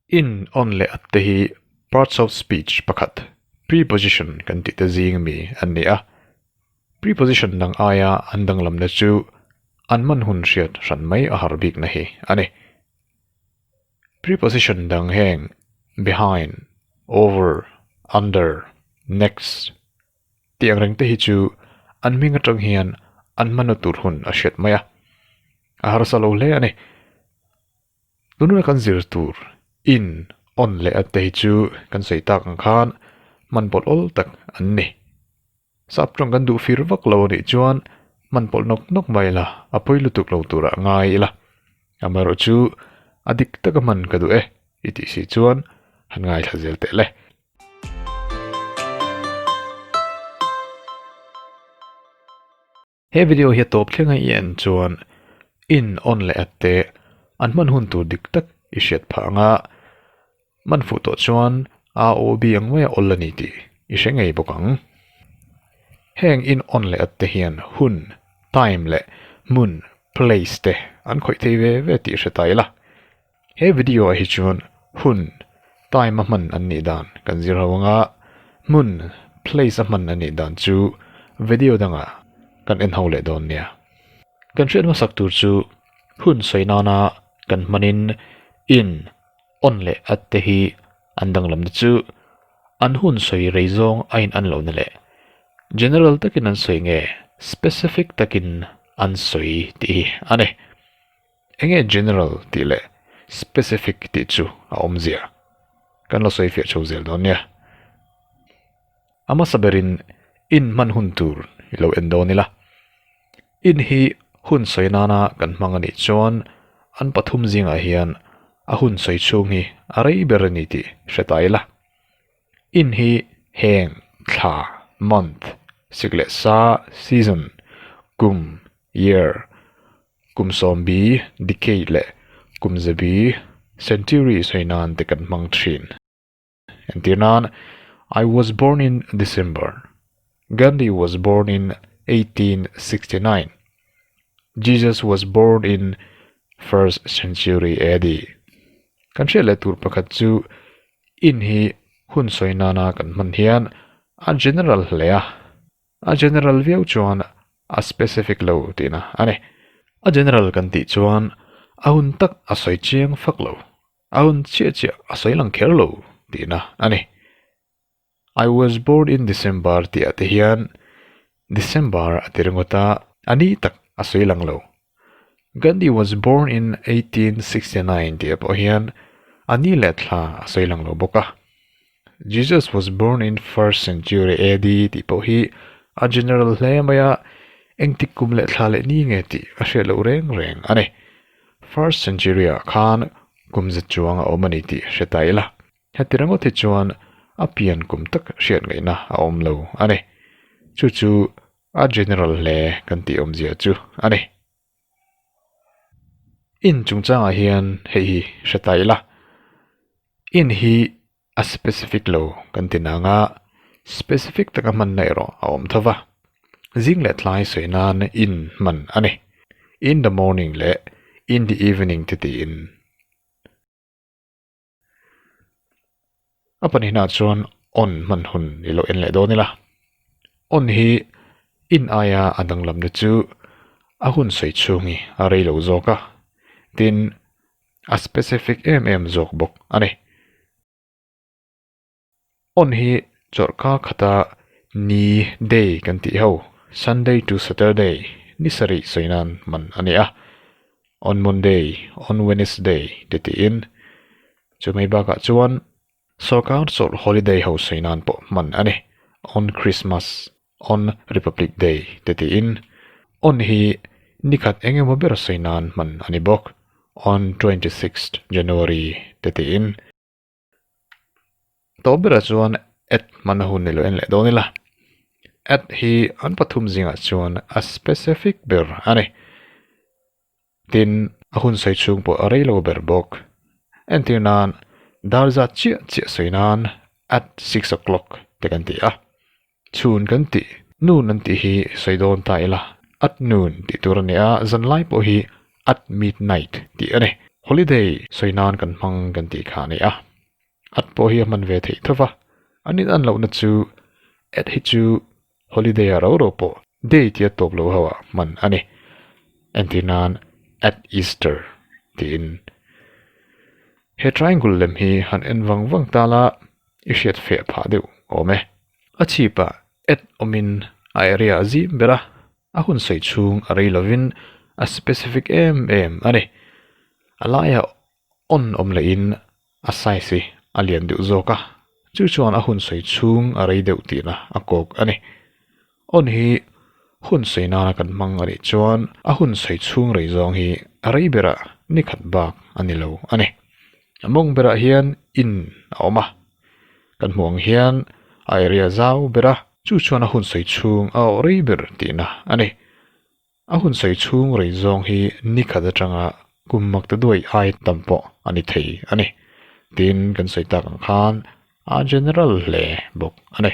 In on leh up te hi parts of speech pakhat preposition kan tih te zing mi an ni a. Preposition dang aia an danglam na chu an man hun hriat hran mai a har bik na hi a ni. Preposition dang heng behind, over, under, next tih ang reng te hi chu an hming atang hian an manu tur hun a hriat mai a, a harsa lo hle a ni. Tunah kan zir tur in awn leh a te hi chu kan sawi tak ang khan man pawlh awl tak an ni. Sap tawng kan duh fir vak lo a nih chuan man pawlh nawk nawk mai ila a pawi lutuk lo turah a ngai ila amaherawh chu a dik taka hman ka duh e i tih si chuan han ngaithla zel teh le. He video hi a tawp thlenga i en chuan in on leh at te an hman hun tur dik tak i hriat phah anga man fuh tawh chuan aa aw bi ang mai a awlh a ni tih i hre ngei bawk ang. Heng in on leh at te hian hun, time, leh hmun, place, te an khawih thei ve ve tih hre ta ila. He video ah hi chuan hun, time, a hman an nih dan kan zir ho ang a, hmun, place, a hman a nih dan chu video dangah kan en ho leh dawn nia. Kan hriat hmasak tur chu hun sawi nana kan hmanin in, on leh at te hi an danglam na chu an hun sawi rei zawng a in an loh na leh general takin an sawi nge specific takin an sawi tih hi a ni. Enge general tih leh specific tih chu a awm ziah? Kan la sawi fiah tho zel dawn nia. A hmasa berin in hman hun tur i lo en dawn ila. In hi hun sawi nana kan hmang a nih chuan an pathum zingah hian a hun sawi chhung hi a rei ber a ni tih hre ta ila. In hi heng, thla, month, sik leh sa, season, kum, year, Kum sawmbi, decade, leh kum zebi, century, sawi nan te kan hmang thin. Entir nan, I was born in December. Gandhi was born in eighteen sixty nine. Jesus was born in first century AD. Kan hriat leh tur pakhat chu in hi hun sawi nana kan hman hian a general hle a. A general viau chuan a specific lo tihna a ni. A general kan tih chuan a hun tak a sawi chiang fak lo, a hun chiah chiah a sawi lang kher lo tihna a ni. I was born in December tih ah te hian December a ti ringawt a, a ni tak a sawi lang lo Gandhi was born in eighteen sixty nine tih pawh hian a ni leh thla a sawi lang lo bawk a. Jesus was born in first century AD tih pawh hi a general hle mai a, engtik kum leh thla leh ni nge tih a hriat loh reng reng a ni. First century ah khan kum zet chuang a awm a ni tih hre ta ila, heti ringawt hi chuan a pian kum tak hriat ngaihna a awm lo a ni. Chu chu A general hle kan tih awmzia chu a ni. In chungchangah hian hei hi hre ta ila, in hi a specific lo kan ti nang a, specific taka hmanna erawh a awm tho va, zing leh tlai sawi nan in hman a ni. In the morning leh in the evening te tiin. a pahnihna ah chuan awn hman hun ni loh en leh dawn ila awn hi in aia a danglam te chu a hun sawi chhung hi a rei lo zawk a tin a specific em em zawk bawk a ni. Hmun hi chawrhka khata ni day kan tih ho, Sunday to Saturday, ni sarih sawi nan hman a ni a, on Monday, on Wednesday te tiin. Chu mai bakah chuan sawrkar chawrh holiday ho sawi nan pawh hman a ni, on Christmas, on Republic Day te tiin. On hi ni khat eng emaw ber sawi nan hman a ni bawk, on twenty sixth January te tiin. Tawp berah chuan at hmana hun ni loh en leh dawn ila at hi an pathum zingah chuan a specific ber a ni. Tin, a hun sawi chhung pawh a rei lo ber bawk. Entir nan, dar zat chiah chiah sawi nan at six o clock te kan ti a. Chhun kan tih, nun an tih hi sawi dawn ta ila, at noon tih tur a ni a, zan lai pawh hi at midnight tih a ni. Holiday sawi nan kan hmang kan tih kha a ni a, at pawh hi a hman ve theih tho va, an in an lohna chu at hi chu holiday a ro ro pawh day tia tawp lo ho ah hman a ni. Entih nan at Easter tiin he triangle lem hi han en vang vang ta la. i hriat feh phah deuh awm e. A chhipa at awmin a area a zim ber a, a hun sawi chhung a rei lovin a specific em em a ni. A laia on awm lehin a size hi a lian deuh zawk a, chu chuan a hun sawi chhung a rei deuh tihna a kawk a ni. Awn hi hun sawi nana kan hmang a rih chuan a hun sawi chhung rei zawng hi a rei ber a ni khat bak a ni lo a ni. A mawng ber ah hian in a awm a, kan hmuh ang hian a area zau ber a, chu chuan a hun sawi chhung a awh rei ber tih na a ni. A hun sawi chhung rei zawng hi ni khat atanga kum mak te duai ai tam pawh a ni thei a ni. Tin kan sawi tak ang khan a general hle bawk a ni.